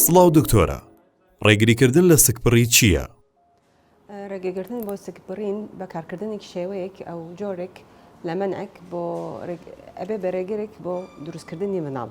سڵاو دکتۆرە ڕێگریکردن لە سکپڕی چییە؟ ڕێگەگرتن بۆ سکبڕین بە کارکردنی شێوەیەک ئەو جۆرێک لە منعک بۆ ئەبێ بە ڕێگرێک بۆ دروستکردنی مناڵ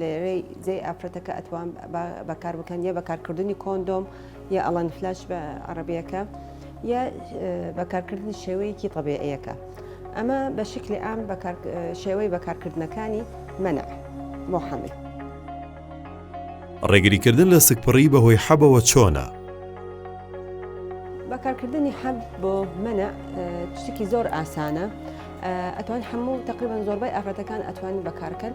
لەرێی جێی ئافرەتەکە ئەتوان بەکار بکەن یە بەکارکردنی کۆندۆم یە ئەڵەن فلاش بە عربیەکە یە بەکارکردنی شێوەیەکی طبێعیەکە ئەمە بە شکلی ئام شێوەی بەکارکردنەکانی منع محمل. ڕێگریکردن لە سکپڕی بەهۆی حەبەوە چۆنە؟ بەکارکردنی حەب بۆ منە شتێکی زۆر ئاسانە ئەتوان هەموو تقریبان زۆربای ئافرەتەکان ئەتوان بەکارکەن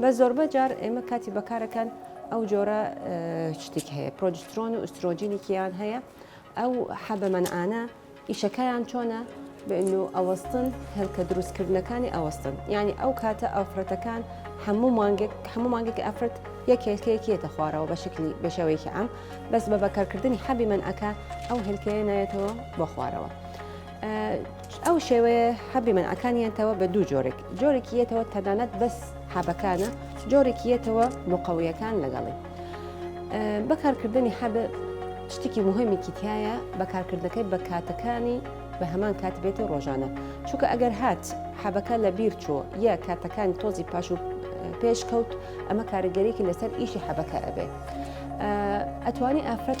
بە زۆربە جار ئێمە کاتی بەکارەکان ئەو جۆرە شتێک هەیە پرۆجسترۆن و ئوسترۆجینێکیان هەیە ئەو حەبەمەنعانە ئیشەکەیان چۆنە بن و ئەوەستن هێلکە دروستکردنەکانی ئەوەستن یعنی ئەو کاتە ئەوفرەتەکان هەموو مانگێک هەموو مانگێک ئەفرەت یەک هێلکەیەکیێتە خوارەوە بە شکلی بەشێوەیەکی ئەم بەس بە بەکارکردنی حەبی منعەکە ئەو هێلکەیە نایێتەوە بۆ خوارەوە. ئەو شێوەیە حەبی منعەکانیان تەوە بە دوو جۆرێک جۆرێکی یەتەوە تەنانەت بەس حەبەکانە جۆرێکی یەتەوە مقەویەکان لەگەڵی بەکارکردنی حەب شتێکی مهمێکی تایە بەکارکردنەکەی بە کاتەکانی بە هەمان کات بێت و ڕۆژانە چونکە ئەگەر هات حەبەکە لە بیر چۆ یا کاتەکان تۆزی پاش و پێشکەوت ئەمە کارگەرێکی لەسەر ئیشی حەبەکە ئەبێ ئەتوانی ئافرەت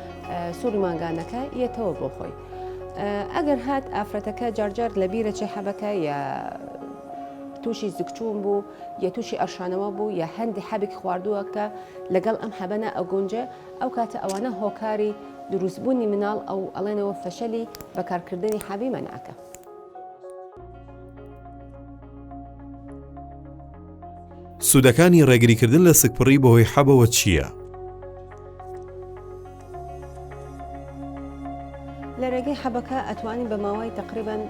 سوڕی مانگانەکە یەتەوە بۆ خۆی ئەگەر هات ئافرەتەکە جارجار لە بیرە چێ حەبەکە یا تووشی زکچوون بوو یا تووشی ئەرشانەوە بوو یا هەندی حەبێک خواردووە کە لەگەڵ ئەم حەبەنە ئەگونجێ ئەو کاتە ئەوانە هۆکاری دروستبوونی مناڵ ئەو ئەڵێنەوە فەشەلی بەکارکردنی حەبی مەناکە. سوودەکانی ڕێگریکردن لە سکپڕی بەهۆی حەبەوە چییە؟ لە ڕێگەی حەبەکە ئەتوانی بە ماوەی تقریبان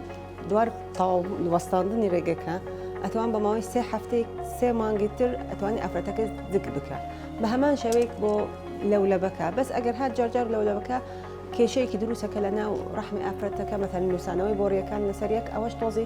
دوار تاو وەستاندنی ڕێگەکە ئەتوان بە ماوەی سێ هەفتێک سێ مانگی تر ئەتوانی ئافرەتەکە دک بکە بە هەمان شێوەیەک بۆ لەولەبەکە بەس ئەگەر هات جارجار لەولەبەکە کێشەیەکی دروستەکە لە ناو ڕحمی ئافرەتەکە مەتەن نووسانەوەی بۆڕیەکان لەسەر یەک ئەوەش تۆزی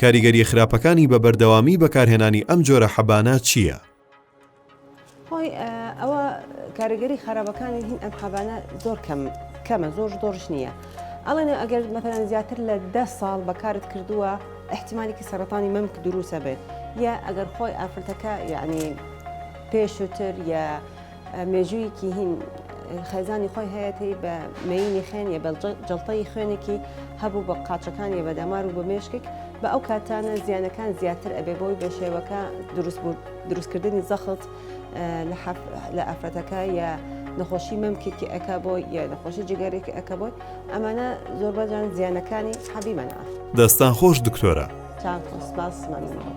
کاریگەرییە خراپەکانی بە بەردەوامی بەکارهێنانی ئەم جۆرە حەبانە چییە؟ هۆی ئەوە کاریگەری خراپەکانی هین ئەم حەبانە زۆر کەم کەمە زۆر زۆرش نییە. ئەڵێن ئەگەر مەتەن زیاتر لە ده ساڵ بەکارت کردووە احتیمالێکی سەرەتانی مەمک دروسە بێت یا ئەگەر خۆی ئافرەتەکە یعنی پێشووتر یا مێژوویەکی هین خێزانی خۆی هەیەتی بە مینی خێنیە بە جڵتەی خوێنێکی هەبوو بە قاچەکانی بە دەمار و بە مێشکێک بە ئەو کاتانە زیانەکان زیاتر ئەبێ بۆی بە شێوەکە دروست بوو دروستکردنی زەخت لە ئافرەتەکە یا نەخۆشی مەمکێکی ئەک بۆ یا نەخۆشی جگەرێکی ئەک بۆت ئەمانە زۆر بەجان زیانەکانی حەبی مەنا دەستان خۆش دکتۆرە. چاکۆ سپاس مەمنون.